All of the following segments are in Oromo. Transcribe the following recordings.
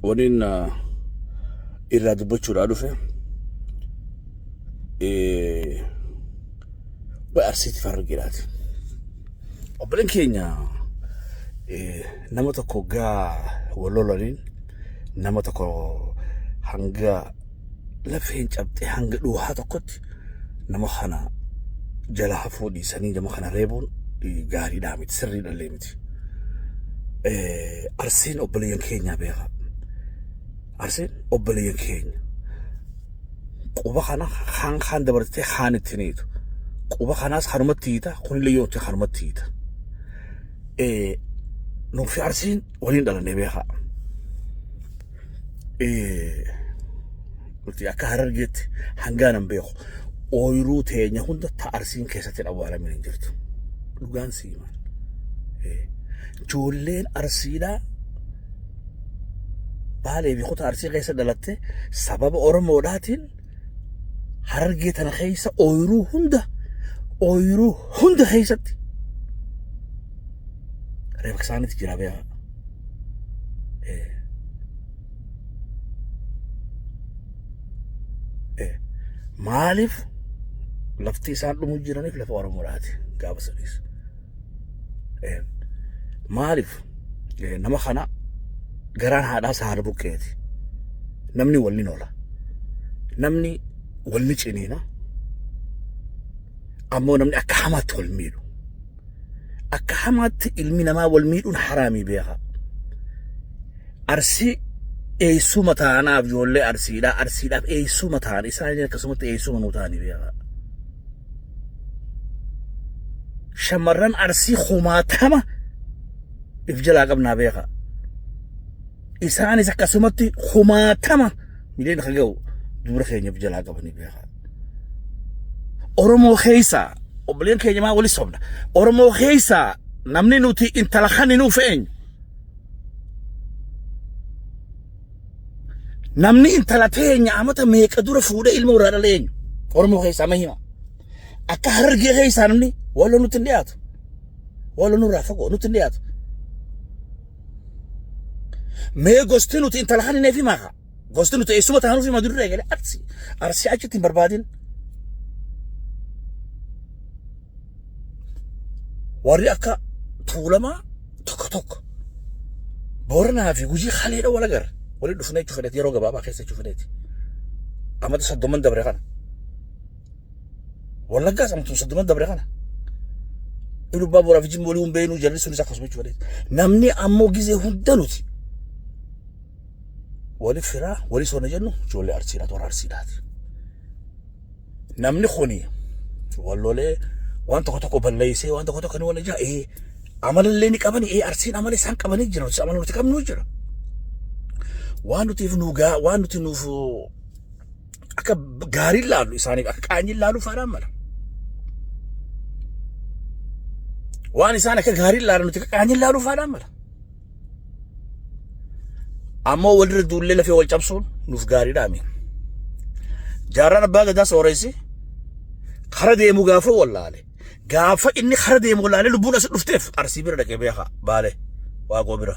Waniin irraa dubbachuudhaa dhufe way arsiiti farraggeedhaati. Obboleen keenya nama tokko gaa wal lolaniin nama tokko hanga lafeen cabxee hanga dhuhaa tokkotti nama kana jala hafuu dhiisanii nama kana reebuun gaariidhaa miti sirriidhallee miti. Arsiin obboleeyyan keenyaa beekaa. Arsiin obboleeyyan keenya. Quba kana kaan kaan dabartee kaan ittiin hiitu. Quba kanaas kanumatti hiita kunillee yoo ta'e kanumatti hiita. Nuufi arsiin waliin dhalannee beekaa. nuti akka harargeetti hangaan hin beeku ooyiruu teenya hunda ta arsiin keessatti hin awwaalamin hin jirtu dhugaan siimaan ijoolleen arsiidhaa baalee fi kutaa arsii keessa dhalatte sababa oromoodhaatiin harargee tana keessa ooyiruu hunda ooyiruu hunda keessatti reefaksaanitti jira beekaa maaliif lafti isaan dhumuu jiraniif lafa Oromoodhaati gaafa saniis. Maaliif nama kana garaan haadhaa isaa haadha buqqeeti. Namni wal ni noola. Namni wal ni ciniina. Ammoo namni akka hamaatti wal miidhu. akka hamaatti ilmi namaa wal miidhuun haraamii beeka. Arsii eessuma taanaaf ijoollee arsiidhaa arsiidhaaf eessuma taan isaan akkasumatti eessuma nuu taanii beeka. Shamarran arsii kumaatama if jalaa qabnaa beeka. Isaanis akkasumatti kumaatama. mileen akka ga'u dubra keenya of jalaa qabanii beeka. Oromoo keessaa obboleen keenya maa wali sobna. Oromoo keessaa namni nuti intala kan hin ufeenyu. Namni intala teenya amata meeqa dura fuudhee ilma irraa dhaleenyu. Oromoo keessaa ma hima. Akka harargee keessaa namni waloo nutti hin dhiyaatu. Waloo nurraa fagoo nutti hin dhiyaatu. mee gosti nuti intala kan hin eefi maaqa gosti nuti eessuma taanuu fi madurri eegale arsi arsi achitti hin barbaadin warri akka tuulamaa tokko tokko booranaa fi gujii haleedha wal agarra walitti dhufnee jechuun fedheeti yeroo gabaabaa keessa jechuun fedheeti amata soddoman dabre kana Wallaggaa samtuu soddoma dabre kana. Ilu abbaa booraa fi jimma walii hin beeknu jarri sunis akkasuma jechuu badeeti. Namni ammoo gizee hunda nuti wali firaa wali soona jennu ijoollee arsiidha toora arsiidhaati. Namni kuni wallolee waan tokko tokko balleessee waan tokko tokko ni walla jaa ee amalallee ni qabani ee arsiin amala isaan qabanii jira nuti amala nuti qabnu jira. Waan nutiif nu gaa waan nuti nuuf akka gaariin laalu isaaniif akka qaanyiin laalu faadhaan mala. Waan isaan akka gaariin laalan nuti akka qaanyiin laalu faadhaan mala. Ammoo walirra duullee lafee wal cabsuun nuuf gaariidhaa miin. Jaarraan abbaa gadaa sooressi kara deemu gaafuu wallaale. Gaafa inni kara deemu laalee lubbuun as dhufteef arsii bira dhaqee beekaa baale waaqoo bira.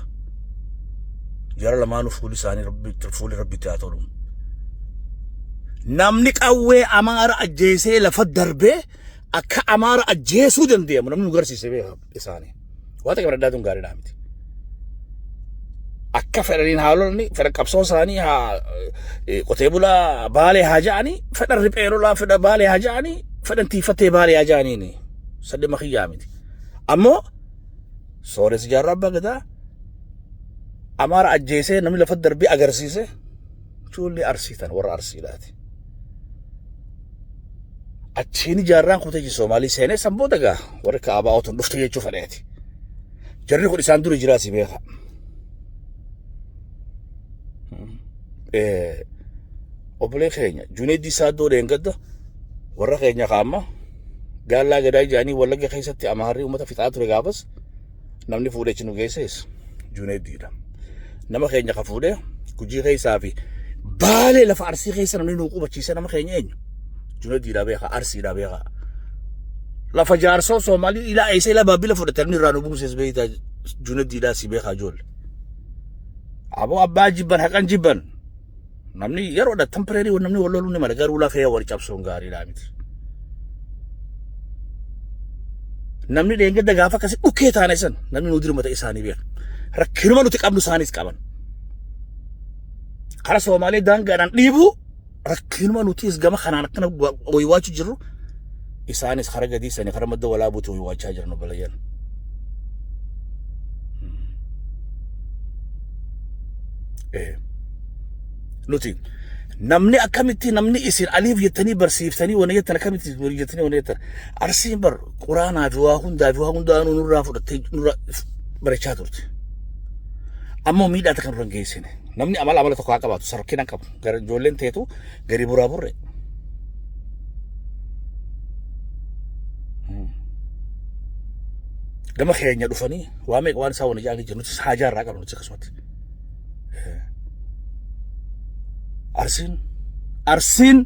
Jara lamaanuu fuuli isaanii rabbitti fuuli rabbitti haa tolu. Namni qawwee amaara ajjeesee lafa darbee akka amaara ajjeesuu danda'amu namni nu garsiise beekaa. isaanii. Waan takka bira addaatuun gaariidhaa miti. Akka fedhaniin haalonni fedha qabsoo isaanii haa eh, qotee bulaa baalee haa ja'anii fedha riphee lolaa fedha baalee haa ja'anii fedhan tiifattee baalee haa ja'aniini. Sadde makiyyaa miti. Ammoo sooressi jaarraa abbaa gadaa amaara ajjeesee namni lafa darbee agarsiise Ijoollee Arsii tan warra Arsiidhaati. Achiin jaarraan kun tajaajila Soomaalii seenee san booda gaa warri kaabaa otuun dhufte jechuu fedheeti. Jarri kun isaan dura jiraa si beeka. Obbolee keenya Juneeddii Saaddoo Dheengadda warra keenya kaamma gaallaa gadaa ijaanii wallagga keessatti amaarrii uummata fixaa ture gaafas namni fuudhee achi nu geessees Juuneeddiidha. Nama keenya ka fuudhee gujii keessaa fi baalee lafa arsii keessa namni nu qubachiise nama keenya eenyu? Juuneeddiidha beekaa, arsiidha beekaa. Lafa jaarsoo Soomaalii ilaa eessa ilaa baabila fudhatan irraa nu buuses beektaa Juuneeddiidhaa si beekaa ijoollee. Aboo abbaa jibban haqan jibban. Namni yeroo dha temporary wal namni wal loluu ni mala garuu lafee wal cabsuun gaariidhaa miti. Namni dheengadda gaafa akkasii dhukkee taane san namni nu dirmata isaanii beeka. Rakkinuma nuti qabnu isaanis qaban. Kara Soomaalee daangaadhaan dhiibuu rakkinuma nutis gama kanaan akkana waywaachuu jirru isaanis kara gadiisani kara madda walaabuutu waachaa jiran obboleeyyan. Nuti namni akkamitti namni isin aliif jettanii barsiiftanii wana jettan akkamitti walii jettanii wana jettan arsiin bar quraanaa fi waa hundaa fi waa hundaa nu nurraa fudhattee nurraa barachaa turte. Ammoo miidhaa takka nurra hin geessine. Namni amala amala tokko haa qabaatu sarkina qabu. Gara ijoolleen teetu gadi buraa burre. Gama keenya dhufanii waa meeqa waan isaa wani jaanii jiru nutis haajaa irraa qabnu nutis akkasumatti. Arsiin arsiin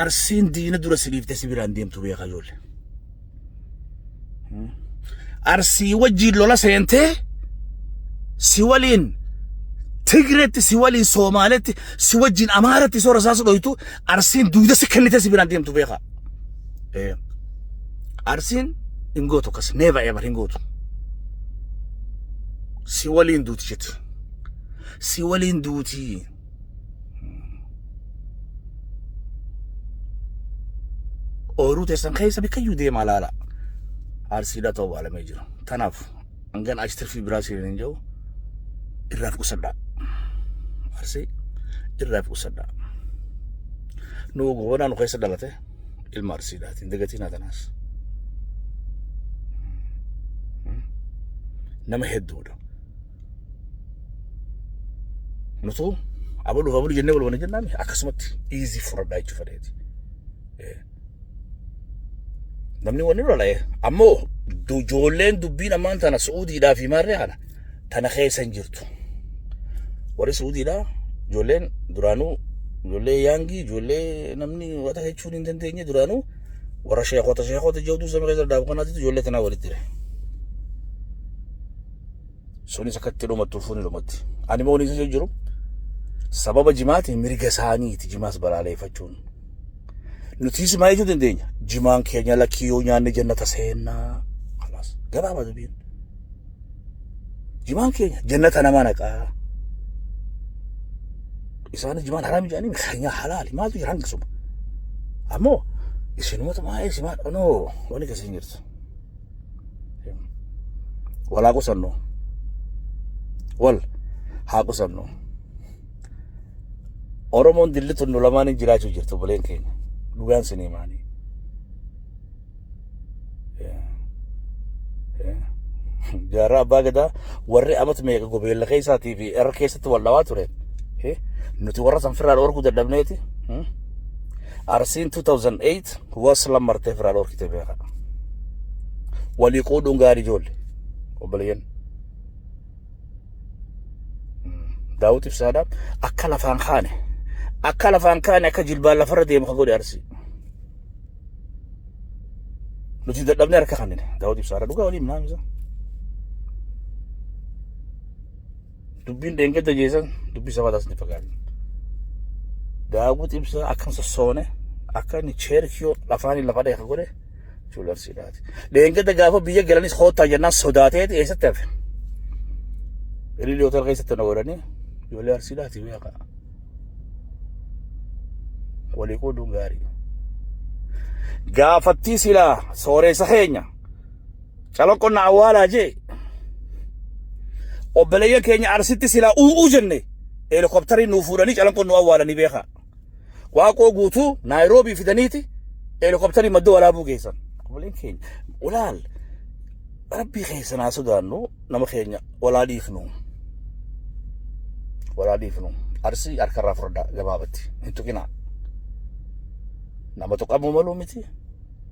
arsiin diina dura siliiftee si biraan deemtu beekaa ijoollee. arsii wajjiin lola seentee si waliin tigreetti si waliin soomaaletti si wajjiin amaaratti soora isaa sudhoytu arsiin duuda si kennite si biraan deemtu beekaa arsiin hin gootu akkas neeva eebar hin gootu si waliin duuti jetti si waliin duutii Ooyiruu teessan keessa bikkayyuu deemaa laala. Arsiidhaa ta'uu waalamee jira. Tanaaf hangan achi tirfii biraa siin hin jiru irraa fi qusadhaa. Arsii irraa fi qusadhaa. Nu goonaa nu keessa dhalate ilma arsiidhaati. Hin dagatiin haa tanaas. Nama hedduudha. nutu abaluuf abaluu jennee wal wana jennaami akkasumatti iizii fudhadhaa jechuu fedheeti. Namni wani lola'e ammoo ijoolleen dubbiin ammaan tana Su'uudiidhaa fi maarree kana tana keessa hin jirtu. Warri Su'uudiidhaa ijoolleen duraanuu ijoollee yaangii ijoollee namni wata jechuun hin dandeenye duraanuu warra sheekota sheekota jechuun samii keessa daabu kanaatitu ijoollee tanaa walitti jira. Sunis akka itti dhumattu fuuni dhumatti. Ani immoo isa jiru sababa jimaati mirga isaaniiti jimaas balaaleeffachuun. Nutis maa jechuu dandeenya? Jimaan keenya lakkii yoo nyaanne jannata seennaa. Kalaas gabaabaa dubiin. Jimaan keenya jannata nama naqaa. Isaanis jimaan haraami jedhanii keenyaa halaali maaltu jira hanga suma. Ammoo isinumatu maa isimaa dhanoo wani keessa hin jirtu. wal haa qusannu wal haa qusannu oromoon dilli tunnu lamaan hin jiraachuu jirtu buleen keenya dhugaan sin himaanii jaarraa abbaa gadaa warri amatu meeqa gobeella keessaatii fi irra keessatti wal dhawaa ture nuti warra sanfirraa dhorkuu dadhabneeti arsiin 2008 wasla martee firaa dhorkite beeka walii quudhuun gaarii joolle obboleeyyan daawwit ibsaadha akka lafaan kaane akka lafaan kaane akka jilbaan lafarra deemu ka godhe arsii nuti dadhabne harka kannine daawwit ibsaadha dhugaa waliin naamisa Dubbiin dheengadda geessan dubbii sabaa taasisni fakkaatan. Daawwuu xibsaa akkam sossoone akka inni cheerkiyoo lafaanii lafa dheeka godhe chuularsiidhaati. Dheengadda gaafa biyya galanis hoottaa jennaan sodaateeti eessatti hafe. Ililii hotel keessatti na godhanii ijoollee arsiidhaati beekaa. Walii qooduun gaarii. Gaafattii silaa sooreessa keenya. Calaqqoon na awwaalaa jee obboleeyyan keenya arsitti silaa uumuu jenne heelikooptarii nuu fuudhanii calanqoon nu awwaalanii beekaa. Waaqoo guutuu Naayiroobii fidaniiti heelikooptarii madda walaabuu geessan. Obboleen keenya walaal rabbii keessa naa sodaannu nama keenya walaa dhiifnu. Walaa dhiifnu. Arsii harkarraa furdaa gabaabatti hin tuqinaa. Nama tuqamuu maluu miti.